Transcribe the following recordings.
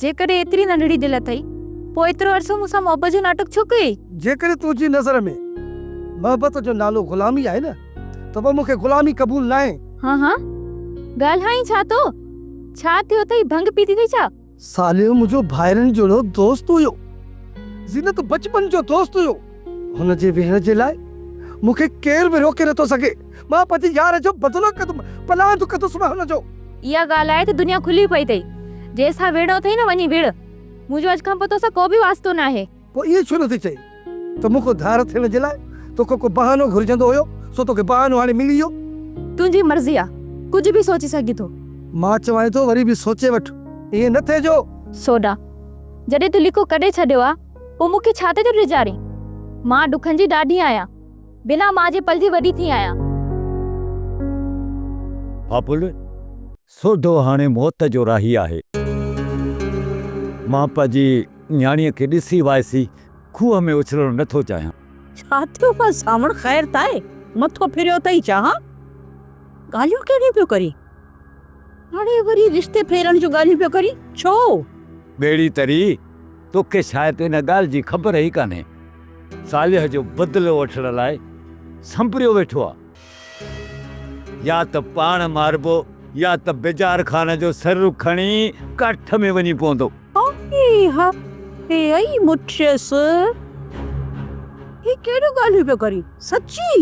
جيڪڏهن ايتري ننڍڙي دل اٿئي، پوء ايترو عرصو مون سان محبت جو ناٽڪ ڇو ڪيئي؟ جيڪڏهن تنهنجي نظر ۾ محبت جو نالو غلامي آهي نه، ته پوء مون کي غلامي قبول ناهي. هان هان، ڳالهائين ڇا ٿو؟ ڇا ٿيو اٿئي، ڀنگ پيتي اٿئي ڇا؟ صالح منهنجو ڀائرن جهڙو دوست هيو. زينت بچپن جو دوست هيو. هن جي ويهڻ جي لاء مون کي ڪير به روڪي نٿو سگهي. مان پنهنجي يار جو بدلو ڪندم، پلاند ڪندس مان هن جو. اها ڳالهه آهي ته دنيا کلي پئي اٿئي. جنهن سان وڙهڻو اٿئي نه وڃي وڙهه. منهنجو اڄ کان پوء توسان ڪو به واسطو ناهي. پوء ائين ڇو نٿي چئين ته مون کان ڌار ٿيڻ جي لاء تو کان ڪو بهانو گهرجندو هيو، سو توکي بهانو هاڻي ملي ويو. تنهنجي مرضي آ. ڪجهه به سوچي سگهين ٿو. مان چوانء ٿو وري به سوچي وٺ. ائين نه ٿئي جو. سوڍا، جڏهن تون ليڪو ڪڍي ڇڏيو آ. پوء مون کي ڇا تي ٿو ڊيڄارين؟ مان ڏکن جي ڏاڍي آهيان. بنا ماء جي پلجي وڏي ٿي آهيان. ڦاڦل، سوڍو هاڻي موت جو راهي آهي. مان پنهنجي نياڻيء کي ڏسي وائسي کوهه ۾ اڇلڻ نه ٿو چاهيان. ڇا ٿيو آهي سانوڻ؟ خير ته آهي؟ مٿو ڦريو اٿئي ڇا؟ ها؟ ڳالهيون ڪهڙيون پيو ڪرين؟ هاڻي وري رشتي ڦيرڻ جون ڳالهيون پيو ڪرين؟ ڇو؟ ٻيڙي تري. توکي شايد ان ڳالهه جي خبر ئي ڪانهي. صالح جو بدلو وٺڻ لاء سنبريو ويٺو آ. يا ته پاڻ ماربو يا ته بيجار خان جو سر کڻي ڪاٺ ۾ وڃي پوندو. صالح کي اي مٺيس. هي ڪهڙيون ڳالهيون پيو ڪرين. سچي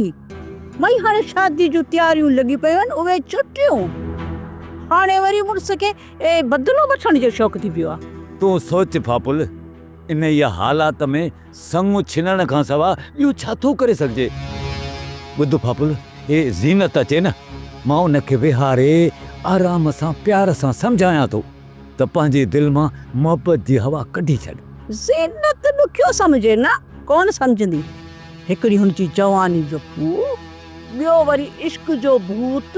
مئي هاڻي شادي جون تياريون لڳي پيون آهن اهي چٽيون هاڻي وري مڙس کي اي بدلو وٺڻ جو شوق ٿي پيو آ. تون سوچ ڦاپل، انهيء حالات ۾ سڱ ڇنڻ کان سواء ٻيو ڇا ٿو ڪري سگهجي؟ ٻڌ ڦاپل، هي زينت اچي نه، مان ان کي ويهاري آرام سان پيار سان سمجهايان ٿو ته پنهنجي دل مان محبت جي هوا ڪڍي ڇڏ. زينت ڏکيو سمجهي نه، ڪونه سمجهندي. هڪڙي هن جي جواني جو پوء. ٻيو وري عشق جو ڀوت،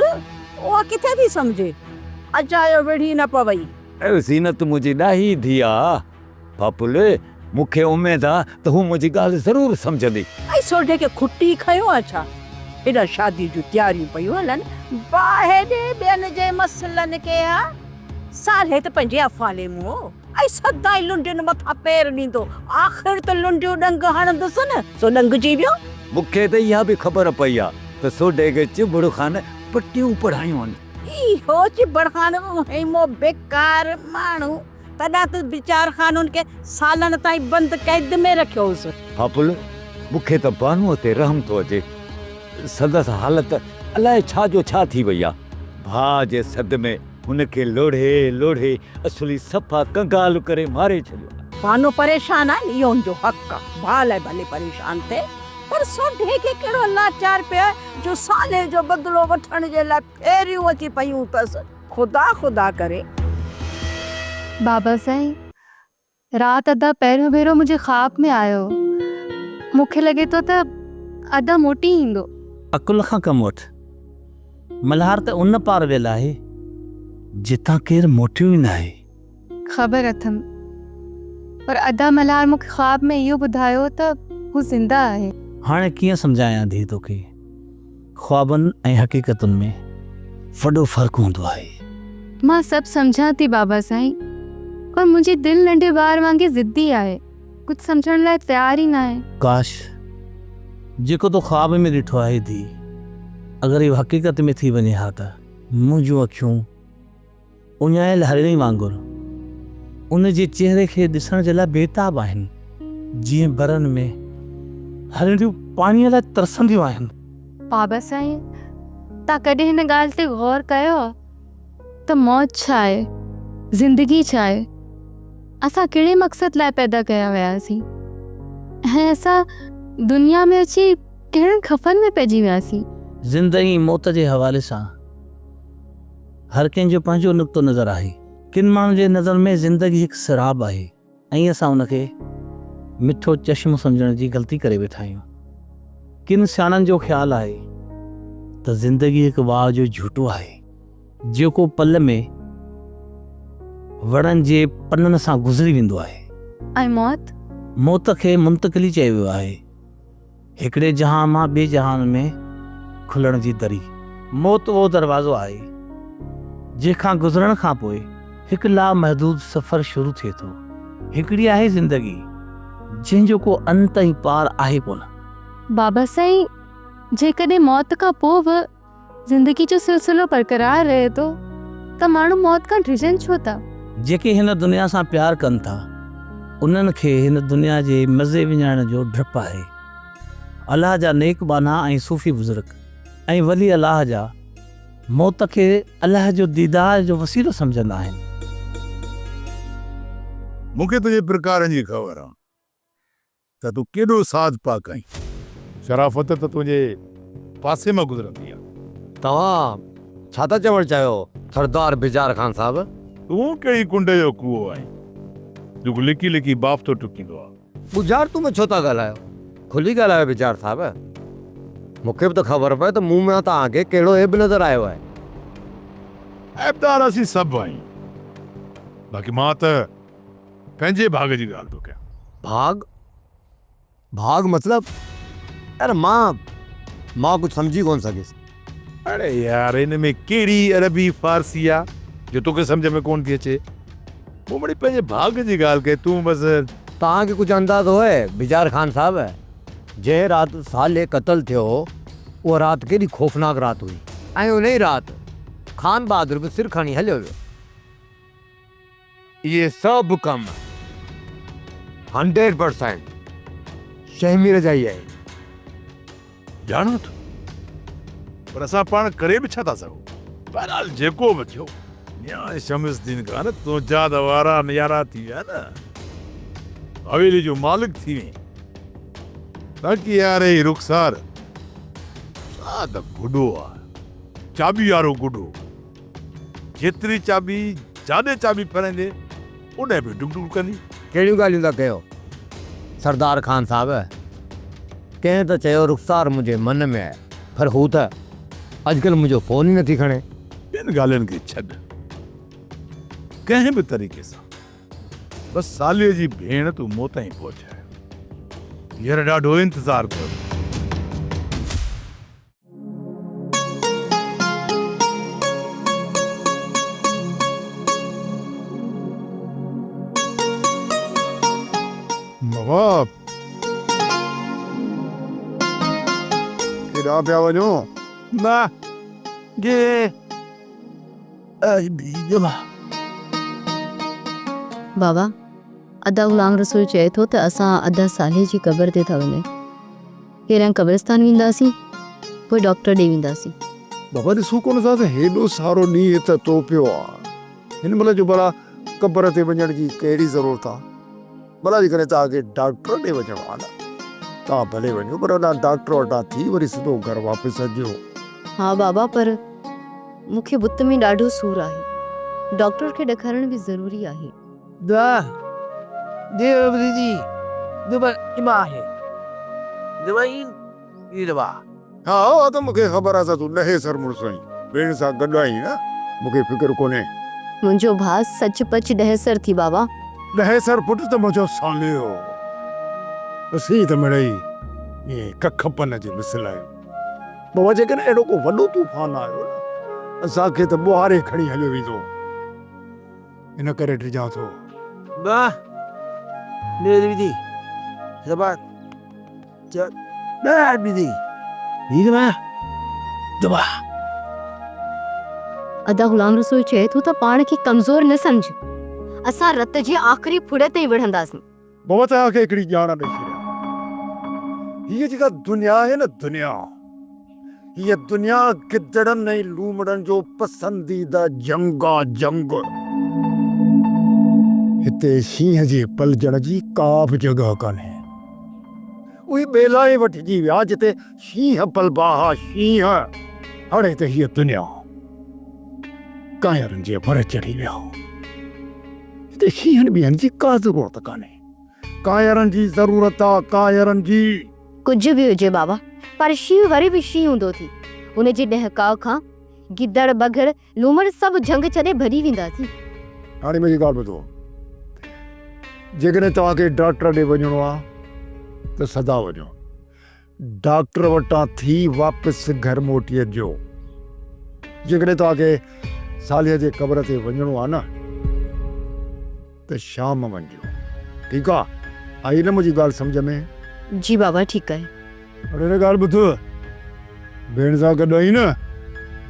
اها ڪٿي ٿي سمجهي. اجايو ويڙهي نه پوي. اي زينت منهنجي ڏاهي ڌيء. پاپولي، مون کي اميد آ ته هوء منهنجي ڳالهه ضرور سمجهندي. اي سوڍي کي کٽي کنيو آ ڇا؟ هيڏانهن شاديء جون تياريون پيون هلن. باهه ڏي ٻين جي مسئلن کي. اها سالهيت پنهنجي افعالي مون. ۽ سدائين لنڊين مٿان پير ڏيندو، آخر ته لنڊيون ڏنگ هڻندس نه، سو ڏنگجي ويو. مون کي ته اها به خبر پئي آ ته سوڍي کي چٻڙ خان پٽيون پڙهايون هن. اهو چٻڙ خان به وهيمو بيڪار ماڻهو، تڏهن ته بيچار خان هن کي سالن تائين بند قيد ۾ رکيو هوس. ڦاڦل، مون کي ته بانوء تي رحم ٿو اچي. سندس حالت الاء ڇا جو ڇا ٿي وئي آ. ڀاء جي سڏ ۾. هن کي لوڙهي لوڙهي اصلي صفا ڪنگال ڪري ماري ڇڏيو. بانو پريشان آهن اهو ان جو حق آ ڀاء لاء ڀلي پريشان ٿئي پر سوڍي کي ڪهڙو لاچار پيو آهي جو صالح جو بدلو وٺڻ جي لاء ڦيريون اچي پيون اٿس خدا خدا ڪري. بابا سائين رات ادا پهريون ڀيرو منهنجي خواب ۾ آيو مون کي لڳي ٿو ته ادا موٽي ايندو. عقل کان ڪم وٺ. ملهار ته ان پار ويل آهي جتان ڪير موٽيو ئي ناهي. خبر اٿم پر ادا ملهار مون کي خواب ۾ اهو ٻڌايو ته هو زنده آهي. هاڻي ڪيئن سمجهايان ڌيء توکي. خوابن ۽ حقيقتن ۾ وڏو فرق هوندو آهي. مان سڀ سمجهان ٿي بابا سائين پر منهنجي دل ننڍي ٻار وانگي ضدي آهي ڪجهه سمجهڻ لاء تيار ئي ناهي. ڪاش جيڪو تو خواب ۾ ڏٺو آهي ڌيء اگر اهو حقيقت ۾ ٿي وڃي ها ته. منهنجون اکيون اڃايل هرڻي وانگر ان جي چهري کي ڏسڻ جي لاء بيتاب آهن، جيئن برن ۾ هرڻيون پاڻيء لاء ترسنديون آهن. بابا سائين، توهان ڪڏهن هن ڳالهه تي غور ڪيو ته موت ڇا آهي؟ زندگي ڇا آهي؟ اسان ڪهڙي مقصد لاء پيدا ڪيا وياسين؟ ۽ اسان دنيا ۾ اچي ڪهڙن خفن ۾ پئجي وياسين؟ زندگي موت جي حوالي سان. هر ڪنهن جو پنهنجو نقطو نظر آهي. ڪن ماڻهن جي نظر ۾ زندگي هڪ سيراب آهي ۽ اسان ان کي مٺو چشمو سمجهڻ جي غلطي ڪري ويٺا آهيون. ڪن سياڻن جو خيال آهي ته زندگي هڪ واهه جو جهوٽو آهي. جيڪو پل ۾ وڻن جي پنن سان گذري ويندو آهي. ۽ موت؟ موت کي منتقلي چيو ويو آهي. هڪڙي جهان مان ٻئي جهان ۾ کلڻ جي دري. موت اهو دروازو آهي، جنهن کان گذرڻ کان پوء هڪ لامحدود سفر شروع ٿئي ٿو. هڪڙي آهي زندگي، جنهن جو ڪو انت ۽ پار آهي ڪونه. بابا سائين جيڪڏهن موت کان پوء به زندگي جو سلسلو برقرار رهي ٿو ته ماڻهو موت کان ڊڄن ڇو ٿا؟ جيڪي هن دنيا سان پيار ڪن ٿا، انهن کي هن دنيا جي مزي وڃائڻ جو ڊپ آهي. الله جا نيڪ ٻانها ۽ صوفي بزرگ ۽ ولي الله جا موت کي الله جو ديدار جو وسيلو سمجهندا آهن. مون کي تنهنجي پرڪارن جي خبر آ. ته تون ڪيڏو ساز پاڪ آهين. شرافت ته تنهنجي پاسي مان گذرندي آ. توهان ڇا ٿا چوڻ چاهيو سردار بجار خان صاحب؟ تون ڪهڙي ڪنڊ جو ڪوئو آهين جيڪو لڪي لڪي بافتو ٽڪيندو آ. ٻجهارتون ۾ ڇو ٿا ڳالهايو کلي ڳالهايو بجار صاحب مون کي به ته خبر پوي ته مون مان توهان کي ڪهڙو عيب نظر آيو آهي. عيبدار اسين سڀ آهيون باقي مان ته پنهنجي ڀاڳ جي ڳالهه ٿو ڪيان. ڀاڳ؟ ڀاڳ مطلب؟ يار مان مان ڪجهه سمجهي ڪونه سگهيس. اڙي يار ان ۾ ڪهڙي عربي فارسي آ جو توکي سمجهه ۾ ڪونه ٿي اچي. مون مڙي پنهنجي ڀاڳ جي ڳالهه ڪئي تون بس. توهان کي ڪجهه اندازو هي بجار خان صاحب جنهن رات صالح قتل ٿيو اها رات ڪيڏي خوفناڪ رات هئي. ۽ انهي رات خان بهادر به سر کڻي هليو ويو. اهي سڀ ڪم هنڊريڊ پرسينٽ شهمير جا ئي آهن. ڄاڻو ٿو، پر اسان پاڻ ڪري به ڇا ٿا سگهون؟ بهرحال جيڪو به ٿيو. ميان شمس الدين خان تنهنجا ته وارا نيارا ٿي ويا نه، حويلي جو مالڪ ٿي وئين. باقي يار هي رخسار، سا ته گڊو آهي، چاٻي وارو گڊو. جيتري چاٻي جاڏي چاٻي ڦيرائيندي اوڏهن به ڊڪ ڊڪ ڪندي. ڪهڙيون ڳالهيون ٿا ڪيو سردار خان صاحب. ڪنهن ته چيو رخسار منهنجي من ۾ آهي. پر هو ته اڄڪلهه منهنجو فون ئي نٿي کڻي. ٻين ڳالهين کي ڇڏ ڪنهن به طريقي سان بس ساليء جي ڀيڻ تون مون تائين پهچاء. هينئر ڏاڍو انتظار ڪيو. نواب! ڪيڏانهن پيا وڃو؟ نه جي اي بي جمعه. بابا، ادا غلام رسول چئي ٿو ته اسان ادا صالح جي قبر تي ٿا وڃون. پهريان قبرستان وينداسين پوء ڊاڪٽر ڏي وينداسين. بابا ڏسو ڪونه ٿا ته هيڏو سارو نينهن هت تهه پيو آ هن مهل جو ڀلا قبر تي وڃڻ جي ڪهڙي ضرورت آ ڀلا جيڪڏهن توهان کي ڊاڪٽر ڏي وڃڻو آ نه توهان ڀلي وڃو پر هتان ڊاڪٽر وٽان ٿي وري سڌو گهر واپس اچجو. ها بابا پر مون کي بت ۾ ڏاڍو سور آهي ڊاڪٽر کي ڏکارڻ به ضروري آهي. دعا، ديوبندي جي دٻڻ اما آهي. ديوائين جي دوا. ها اها ته مون کي خبر آ سا تون ڏهي سر مڙس آهين. ويڻ سان گڏ آهين نه؟ مون کي فڪر ڪونهي. منهنجو ڀاء سچ پچ ڏهي سر ٿي بابا. ڏهي سر پٽ ته منهنجو ساليو هو. اسين ته مڙئي ائين ڪک پن جي مثل آهيون. بابا جيڪڏهن اهڙو ڪو وڏو طوفان آيو نه اسان کي ته ٻوهاري کڻي هليو ويندو. ان ڪري ڊڄان ٿو. ٻه نير وڌي زبان چئو ڏهه ٻڌي هير مان دٻاء. ادا غلام رسول چئي ٿو ته پاڻ کي ڪمزور نه سمجهه اسان رت جي آخري ڦڙي تائين وڙهنداسين. بابا توهان کي هڪڙي ڄاڻ ڏئي ڇڏيان. هيء جيڪا دنيا آهي نه دنيا، هيء دنيا گدڙن ۽ لومڙن جو پسنديده جهنگ آ جهنگ. هتي شينهن جي پلجڻ جي ڪا به جڳهه ڪانهي. اهي ٻيلا ئي وٺجي ويا جتي شينهن پل باها شينهن. هڙي ته هيء دنيا ڪانئرن جي ڀر چڙهي ويا. هتي شينهن ٻينهن جي ڪا ضرورت ڪانهي. ڪانئرن جي ضرورت آ ڪانئرن جي. ڪجهه به هجي بابا پر شينهن وري به شينهن هوندو ٿي. ان جي ڏهڪاء کان گدڙ بگهڙ لومڙ سڀ جهنگ ڇڏي ڀڄي ويندا ٿي. هاڻي منهنجي ڳالهه ٻڌو. جيڪڏهن توهان کي ڊاڪٽر ڏي وڃڻو آ ته سدا وڃو. ڊاڪٽر وٽان ٿي واپس گهر موٽي اچجو. جيڪڏهن توهان کي صالحه جي قبر تي وڃڻو آهي نه ته شام وڃجو. ٺيڪ آهي. آئي نه منهنجي ڳالهه سمجهه ۾؟ جي بابا ٺيڪ آهي. پر هڪ ڳالهه ٻڌ. ڀيڻ سان گڏ آهين نه،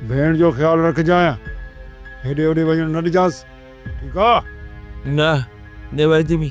ڀيڻ جو خيال رکجانء. هيڏي هوڏي وڃڻ نه ڏجانس. ٺيڪ آهي. نه نيويدمي.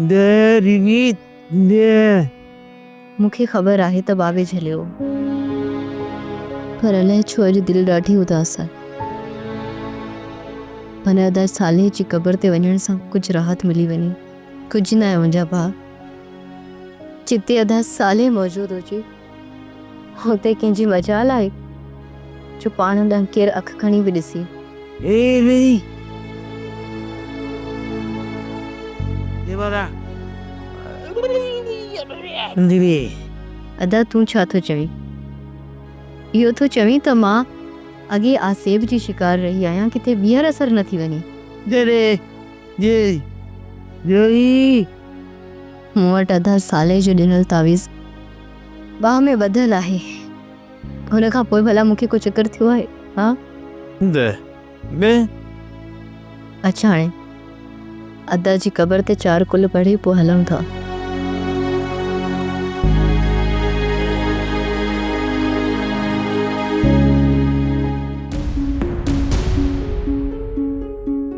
دي ريت دي. مون کي خبر آهي ته بابي جهليو هو. پر الائي ڇو اڄ دل ڏاڍي اداس آهي. ڀلا ادا صالح جي قبر تي وڃڻ سان ڪجهه راحت ملي وڃي. ڪجهه ناهي منهنجا ڀاء. جتي ادا صالح موجود هجي. اتي ڪنهن جي مجال آهي جو پاڻ ڏانهن ڪير اک کڻي به ڏسي. هي ويهي ديوارا ڏسندي ويئي. ادا تون ڇا ٿو چوين؟ اهو ٿو چوين ته مان اڳي آسيب جي شڪار رهي آهيان ڪٿي ٻيهر اسر نه ٿي وڃي. جڏهن جيئي جوئي. مون وٽ ادا صالح جو ڏنل تعويذ باهه ۾ ٻڌل آهي. ان کان پوء ڀلا مون کي ڪو چڪر ٿيو آهي؟ ها؟ هوند نه. اچ هاڻي ادا جي قبر تي چار ڪل پڙهي پوء هلون ٿا.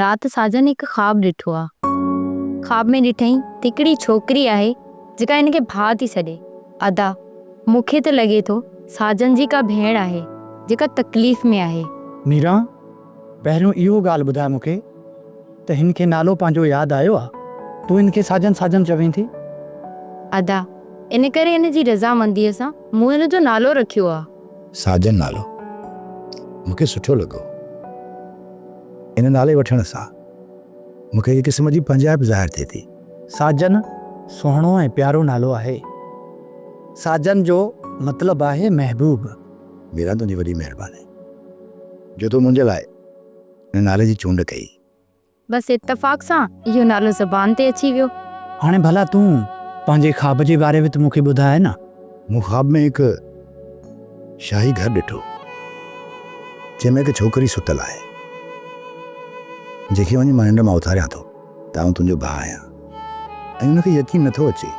رات ساجن هڪ خواب ڏٺو آ. خواب ۾ ڏٺئين ته هڪڙي ڇوڪري آهي جيڪا هن کي ڀاء ٿي سڏي. ادا مون کي ته لڳي ٿو ساجن جي ڪا ڀيڻ آهي جيڪا تڪليف ۾ آهي. ميرا، پهريون اهو ڳالهه ٻڌاء مون کي ته هن کي نالو پنهنجو ياد آيو آ؟ تون هن کي ساجن ساجن چوين ٿي؟ ادا، ان ڪري هن جي رضامنديء سان مون هن جو نالو رکيو آ. ساجن نالو مون کي سٺو لڳو. ان نالي وٺڻ سان مون کي هڪ قسم جي پنهنجائپ ظاهر ٿئي ٿي. ساجن سهڻو ۽ پيارو نالو آهي. ساجن جو مطلب آهي محبوب. ميران تنهنجي وڏي مهرباني جو تو منهنجي لاء ان نالي جي چونڊ ڪئي. بس اتفاق سان اهو نالو زبان تي اچي ويو. هاڻي ڀلا تون پنهنجي خواب جي باري ۾ ته مون کي ٻڌاء نه. مون خواب ۾ هڪ شاهي گهر ڏٺو، جنهن ۾ هڪ ڇوڪري ستل آهي، جنهن کي وڃي مان ننڊ مان اٿاريان ٿو. ته آئون تنهنجو ڀاء آهيان ۽ ان کي يقين نه ٿو اچي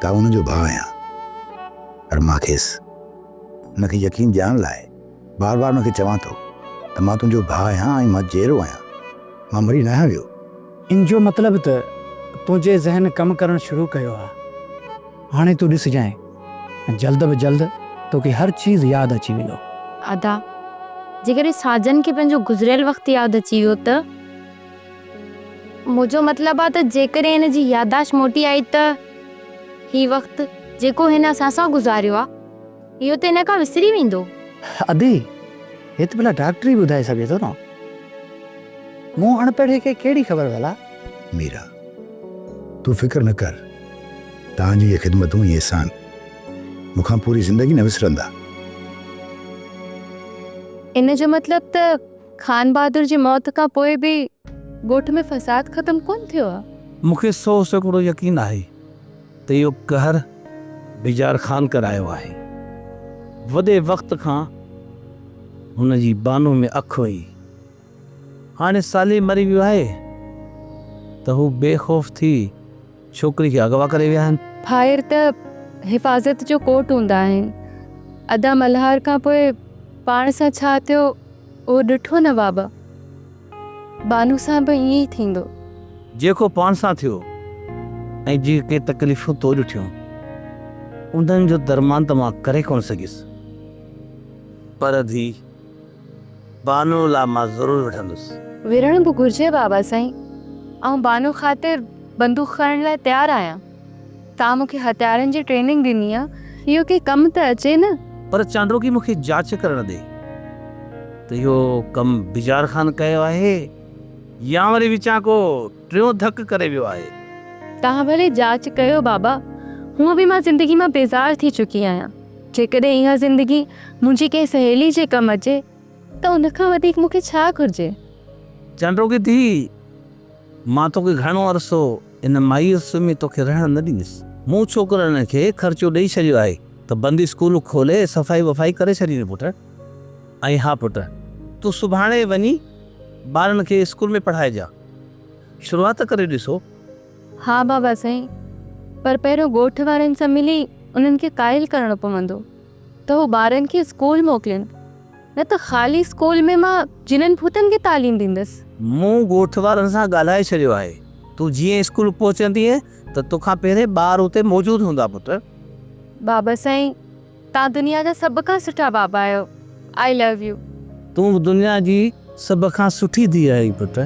ته آئون ان جو ڀاء آهيان، پر مان کيس ان کي يقين ڏيارڻ لاء، بار بار ان کي چوان ٿو ته مان تنهنجو ڀاء آهيان ۽ مان جيئرو آهيان، مان مري ناهيان ويو. ان جو مطلب ته تنهنجي ذهن ڪم ڪرڻ شروع ڪيو آهي. هاڻي تون ڏسجانء ۽ جلد به جلد توکي هر چيز ياد اچي ويندو. ادا، جيڪڏهن ساجن کي پنهنجو گذريل وقت ياد اچي ويو ته؟ منهنجو مطلب آهي ته جيڪڏهن هن جي يادداشت موٽي آئي ته هي وقت جيڪو هن اسان سان گذاريو آهي، اهو ته هن کان وسري ويندو. ادي، هي ته ڀلا ڊاڪٽر ئي ٻڌائي سگهي ٿو نه. مون اڻپڙهي کي ڪهڙي خبر ڀلا. ميرا، تون فڪر نه ڪر. توهان جون اهي خدمتون، هي احسان، مون کان پوري زندگي نه وسرندا. ان جو مطلب ته خانبهادر جي موت کان پوء به ڳوٺ ۾ فساد ختم ڪونه ٿيو آهي. مون کي سؤ سيڪڙو يقين آهي. ته اهو قهر بيجار خان ڪرايو آهي. وڏي وقت کان هن جي بانو ۾ اک هئي. هاڻي صالح مري ويو آهي ته هو بي خوف ٿي ڇوڪري کي اغوا ڪري ويا آهن. ڀائر ته حفاظت جو ڪوٽ هوندا آهن. ادا ملهار کان پوء پاڻ سان ڇا ٿيو اهو ڏٺو نواب؟ بانو سان به ائين ئي ٿيندو. جيڪو پاڻ سان ٿيو ۽ جيڪي تڪليفون تو ڏٺيون، انهن جو درمان ته مان ڪري ڪونه سگهيس، پر ڌيء بانو لا مان ضرور وڙهندس. وڙهڻ به گهرجي بابا سائين، آئون بانو خاطر بندوق کڻڻ لاء تيار آهيان. توهان مون کي هٿيارن جي ٽريننگ ڏني آ، اهو ڪنهن ڪم ته اچي نه. پر چانڊوڪي مون کي جاچ ڪرڻ ڏي ته اهو ڪم بجار خان ڪيو آهي يا وري وچان ڪو ٽيون ڌڪ ڪري ويو آهي. توهان ڀلي جاچ ڪيو بابا، هونء به مان زندگي مان بيزار ٿي چڪي آهيان، جيڪڏهن اها زندگي منهنجي ڪنهن سهيلي جي ڪم اچي ته ان کان وڌيڪ مون کي ڇا گهرجي؟ چانڊوڪي ڌيء! مان توکي گهڻو عرصو ان مائيء سمهي توکي رهڻ نه ڏيندس. مون ڇوڪرن کي خرچو ڏئي ڇڏيو آهي ته بندي اسڪول کولي صفائي وفائي ڪري ڇڏيندين پٽ. ۽ ها پٽ، تون سڀاڻي وڃي ٻارن کي اسڪول ۾ پڙهائجان. شروعات ته ڪري ڏسو. ها بابا سائين، پر پهريون ڳوٺ وارن سان ملي انهن کي قائل ڪرڻو پوندو ته هو ٻارن کي اسڪول موڪلين. نه ته خالي اسڪول ۾ مان جنن ڀوتن کي تعليم ڏيندس. مون ڳوٺ وارن سان ڳالهائي ڇڏيو آهي. تون جيئن اسڪول پهچندينء ته توکان پهرين ٻار اتي موجود هوندا پٽ. بابا سائين توهان دنيا جا سڀ کان سٺا بابا آهيو. I love you. تون به دنيا جي سڀ کان سٺي ڌيء آهين پٽ.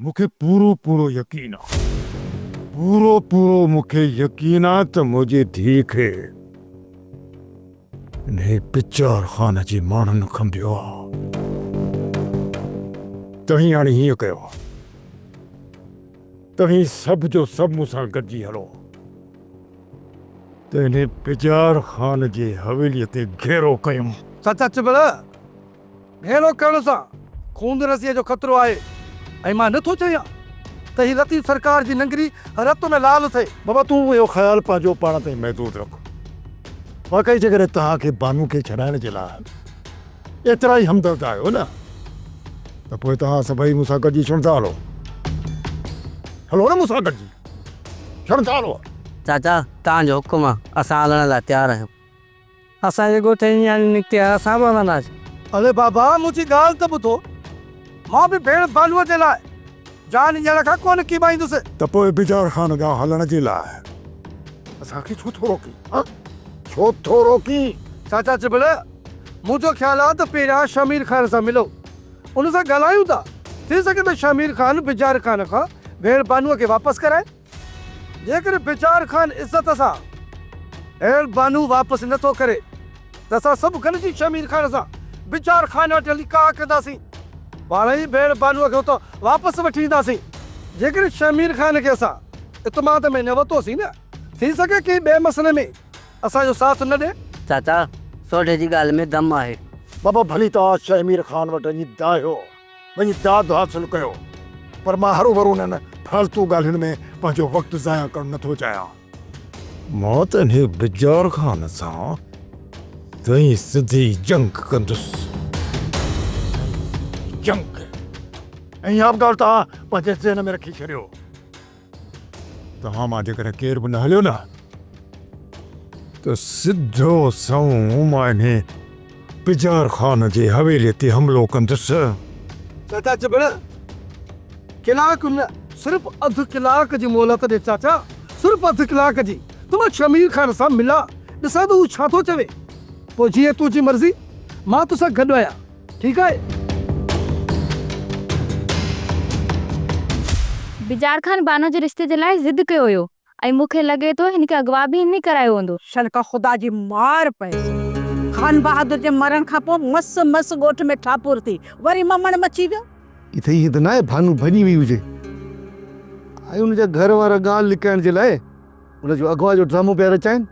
مون کي پورو پورو يقين آ. پورو پورو مون کي يقين آ ته منهنجي ڌيء کي انهي پچار خانه جي ماڻهن کنڀيو آ. توهين هاڻي هيئن ڪيو. توهين سڀ جو سڀ مون سان گڏجي هلو ته انهي پچار خانه جي حويليء تي گهيرو ڪيون. سچ سچ ڀلا! ڀيڙو ڪرڻ سان خون رسيء جو خطرو آهي ۽ مان نه ٿو چهيان ته هي لطيف سرڪار جي ننگري رت ۾ لال ٿئي. بابا تون اهو خيال پنهنجو پاڻ تائين محدود رک. واقعي جيڪڏهن توهان کي بانو کي ڇڏائڻ جي لاء ايترا ئي همدرد آهيو نه ته پوء توهان سڀئي مون سان گڏجي ڇڻ ٿا هلو. هلو نه مون سان گڏجي ڇڻ ٿا هلو. چاچا توهان جو حڪم آ اسان هلڻ لاء تيار آهيون. اسان جي ڳوٺ جي نياڻيون نڪتي آيا اسان به ونداسين. اڙي بابا منهنجي ڳالهه ته ٻڌو. مان به ڀيڻ ڀانوء جي لاء جان ڏيڻ کان ڪونه ڪيٻائيندس. ته پوء بجار خان ڏانهن هلڻ جي لاء اسان کي ڇو ٿو روڪين؟ ها ڇو ٿو روڪين؟ چاچا چٻڙ منهنجو خيال آهي ته پهريان شهمير خان سان ملو ان سان ڳالهايون ٿا ٿي سگهي ته شهمير خان بجار خان کان ڀيڻ بانوء کي واپس ڪرائي. جيڪڏهن بيچار خان عزت سان هيل بانو واپس نه ٿو ڪري ته اسان سڀ گڏجي شهمير خان سان بيچار خان وٽ هلي ڪاهه ڪنداسين. پاڻ ئي ڀيڻ بانوء کي اتان واپس وٺي اينداسين. جيڪڏهن شهمير خان کي اسان اعتماد ۾ نه ورتوسين نه ٿي سگهي ڪنهن ٻئي مسئلي ۾ اسان جو ساٿ نه ڏئي. چاچا، سوڍي جي ڳالهه ۾ دم آهي. بابا ڀلي توهان شهمير خان وٽ وڃي دانهيو. وڃي داد حاصل ڪيو، پر مان هروڀرو انهن فالتو ڳالهين ۾ پنهنجو وقت ضايع ڪرڻ نه ٿو چاهيان. مان ته انهيء بجار خان سان تئين سڌي جنگ ڪندس. جنگ! اها به ڳالهه توهان پنهنجي ذهن ۾ رکي ڇڏيو. توهان مان جيڪڏهن ڪير به نه هليو نه ته سڌو سنئون مان انهي پجار خان جي حويلي تي حملو ڪندس. چاچا چٻڻ ڪلاڪ نه صرف اڌ ڪلاڪ جي مهلت ڏي چاچا صرف اڌ ڪلاڪ جي ته مان شمير خان سان ملان ڏسان ته هو ڇا ٿو چوي پوء جيئن تنهنجي مرضي مان توسان گڏ آهيان. ٺيڪ آهي. بجار خان بانو جي رشتي جي لاء ضد ڪيو هيو ۽ مون کي لڳي ٿو هن کي اغوا به هن ئي ڪرايو هوندو. شلڪا خدا جي مار پئس. خان بهادر جي مرڻ کان پوء مس مس ڳوٺ ۾ ٺاپور ٿي. وري ممڻ مچي ويو. ڪٿي ائين ته ناهي بانو ڀڄي وئي هجي ۽ ان جا گهر وارا ڳالهه لڪائڻ جي لاء ان جو اغوا جو ڊرامو پيا رچائين.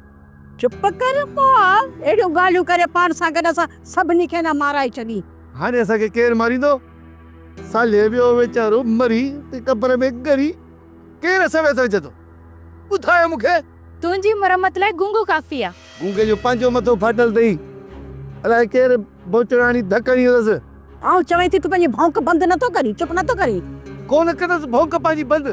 چپ ڪر پوء آء اهڙيون ڳالهيون ڪري پاڻ سان گڏ اسان سڀني کي نه مارائي ڇڏين. هاڻي اسان کي ڪير ماريندو؟ صالح ويو ويچارو مري ته قبر ۾ ڳري ڪير اسان ويس وجهندو؟ ٻڌاء مون کي. تنهنجي مرمت لاء گونگو ڪافي آ. گونگي جو پنهنجو مٿو ڦاٽل تئي الاء ڪير ڀونچڙ هڻي ڌڪ هڻي هلس. آئون چوين ٿي تون پنهنجي ڀونڪ بند نه ٿو ڪرين چپ نه ٿو ڪرين. ڪونه ڪندس ڀونڪ پنهنجي بند.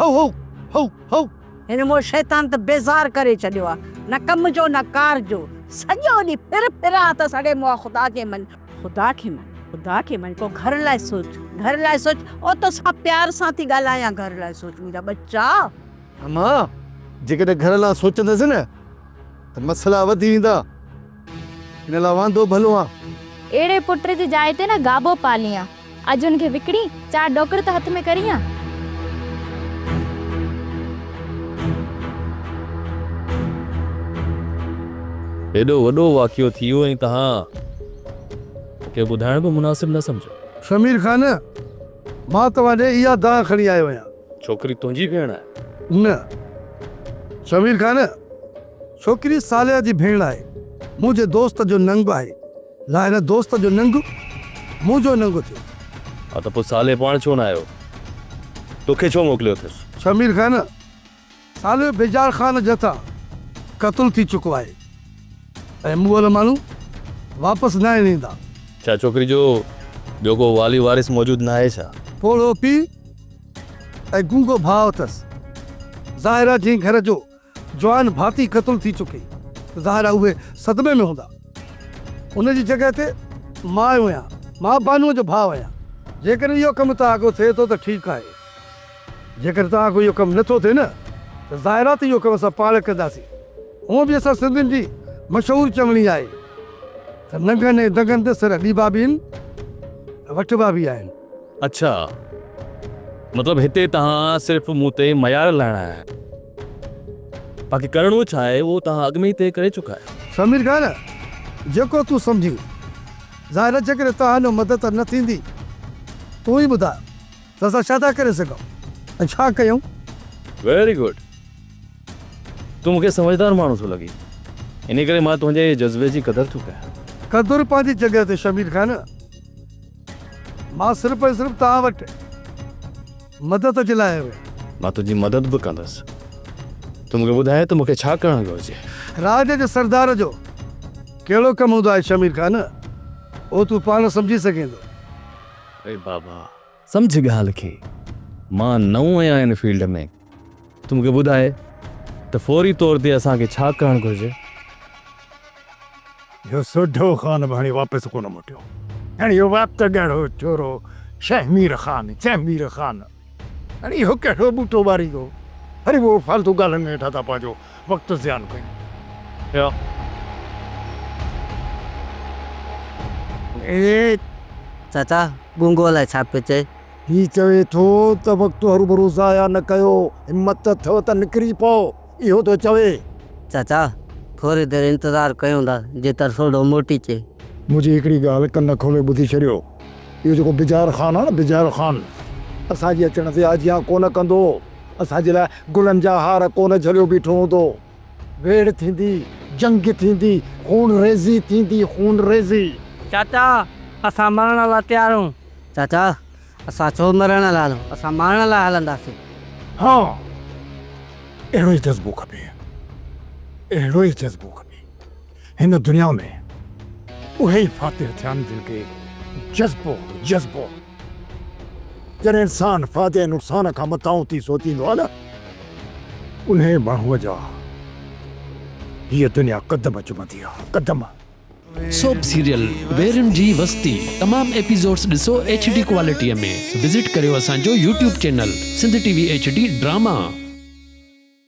هئو هئو هئو هئو. هن مون شيطان ته بيزار ڪري ڇڏيو آ. نه ڪم جو نه ڪار جو. سڄو ڏينهن ڦر ڦر آ ته سڙي مئا خدا کي مڃ. خدا کي مڃ خدا کي مڃ پوء گهر لاء سوچ گهر لاء سوچ او تو سان پيار سان ٿي ڳالهايان گهر لاء سوچ منهنجا ٻچا. امان جيڪڏهن گهر لا سوچندس نه ته مسئلا وڌي ويندا. ان لاء واندو ڀلو آن. اهڙي پٽ جي جاء تي نه گابو پاليان. اڄ ان کي وڪڻي چار ڏوڪڙ ته هٿ ۾ ڪريان. هيڏو وڏو واقعو ٿي ويو ۽ توهان کي ٻڌائڻ به مناسب نه سمجهيو. شمير خان! مان توهان ڏي اها دانهن کڻي آيو آهيان. ڇوڪري تنهنجي ڀيڻ آهي؟ نه شمير خان! ڇوڪري صالحه جي ڀيڻ آهي. منهنجي دوست جو ننگ آهي. لا هن دوست جو ننگ منهنجو ننگ ٿيو. ها ته پوء صالحه پاڻ ڇو نه آيو؟ توکي ڇو موڪليو اٿس؟ شمير خان، صالحه بيجار خان جي هٿان قتل ٿي چڪو آهي ۽ مون وارا ماڻهو واپس ناهن ايندا. ڇا ڇوڪري جو ٻيو ڪو والي وارث موجود ناهي ڇا؟ پوڙهو پيء ۽ گونگو ڀاء اٿس. ظاهر آهي جنهن گهر جو جوان ڀاتي قتل ٿي چڪي ته ظاهر آهي اهي صدمي ۾ هوندا. ان جي جڳهه تي ماء يا ماء بانوء جو ڀاء يا جيڪڏهن اهو ڪم توهان کان ٿئي ٿو ته ٺيڪ آهي. جيڪڏهن توهان کان اهو ڪم نه ٿو ٿئي نه ته ظاهر آهي ته اهو ڪم اسان پاڻ ڪنداسين. هونء به اسان سنڌين جي مشهور چوڻي آهي ته ننگن ۽ دنگن تي سر ڏيبا به هن ۽ وٺبا به آهن. اڇا مطلب هتي توهان صرف مون تي معيار لائڻ آيا آهيو باقي ڪرڻو ڇا آهي اهو توهان اڳ ۾ ئي طئي ڪري چڪا آهيو. سمير خان جيڪو تون سمجهين. ظاهر آهي جيڪڏهن توهان جو مدد نه ٿيندي تون ئي ٻڌاء ته اسان ڇا ٿا ڪري سگهون ۽ ڇا ڪيون. ويري گڊ تون مون کي سمجهدار ماڻهو ٿو لڳين انهي ڪري مان تنهنجي جذبي جي قدر ٿو ڪيان. قدر پنهنجي جڳهه تي شمير خان. مان صرف ۽ صرف توهان وٽ مدد جي لاء آيو آهيان. مان تنهنجي مدد به ڪندس. تون مون کي ٻڌاء ته مون کي ڇا ڪرڻ گهرجي؟ راڄ جي سردار جو ڪهڙو ڪم هوندو آهي شمير خان؟ اهو تون پاڻ سمجهي سگهين ٿو. اي بابا! سمجهه ڳالهه کي. مان نئون آهيان هن فيلڊ ۾. تون مون کي ٻڌاء ته فوري طور تي اسان کي ڇا ڪرڻ گهرجي؟ اهو سوڍو خان به هاڻي واپس ڪونه موٽيو. هاڻي اهو وات ڳاڙهو چورو شيخ مير خان، چيم مير خان، هاڻي اهو ڪهڙو ٻوٽو ٻاريندو؟ هري اهو فالتو ڳالهين ۾ هيٺان ٿا پنهنجو وقت زيان ڪيون. اهو چاچا گونگو الائي ڇا پيو چئي. هي چوي ٿو ته وقت هروڀرو ضايع نه ڪيو، همت ته اٿئو ته نڪري پئو، اهو ٿو چوي. چاچا، ٿوري دير انتظار ڪيون ٿا، جي ترسوڙو موٽي اچي. منهنجي هڪڙي ڳالهه ڪن کولي ٻڌي ڇڏيو، اهو جيڪو بجار خان آهي نه، بجار خان، اسان جي اچڻ تي آجيان ڪونه ڪندو، اسان جي لاء گلن جا هار ڪونه جهليو بيٺو هوندو. ويڙهه ٿيندي، جنگ ٿيندي، خون ريزي ٿيندي، خون ريزي. چاچا! اسان مرڻ لا تيار آهيون. چاچا! اسان ڇو مرڻ لا هلون، اسان مارڻ لا هلنداسين. ها! اهڙو ئي جذبو کپي، اهڙو ئي جذبو کپي. هن دنيا ۾ اهي ئي فاتح ٿيا آهن جن کي جذبو هو، جذبو. جڏهن انسان فائدي نقصان کان متان ٿي سوچيندو آهي نه، انهيء ماڻهوء جا هيء دنيا قدم چمندي آهي، قدم. سوپ سيريل ويرن جي وستي تمام ايپيزوڊس ڏسو ايڇ ڊي ڪوالٽيء ۾وزٽ ڪريو اسان جو YouTube channel Sindh T V H D drama.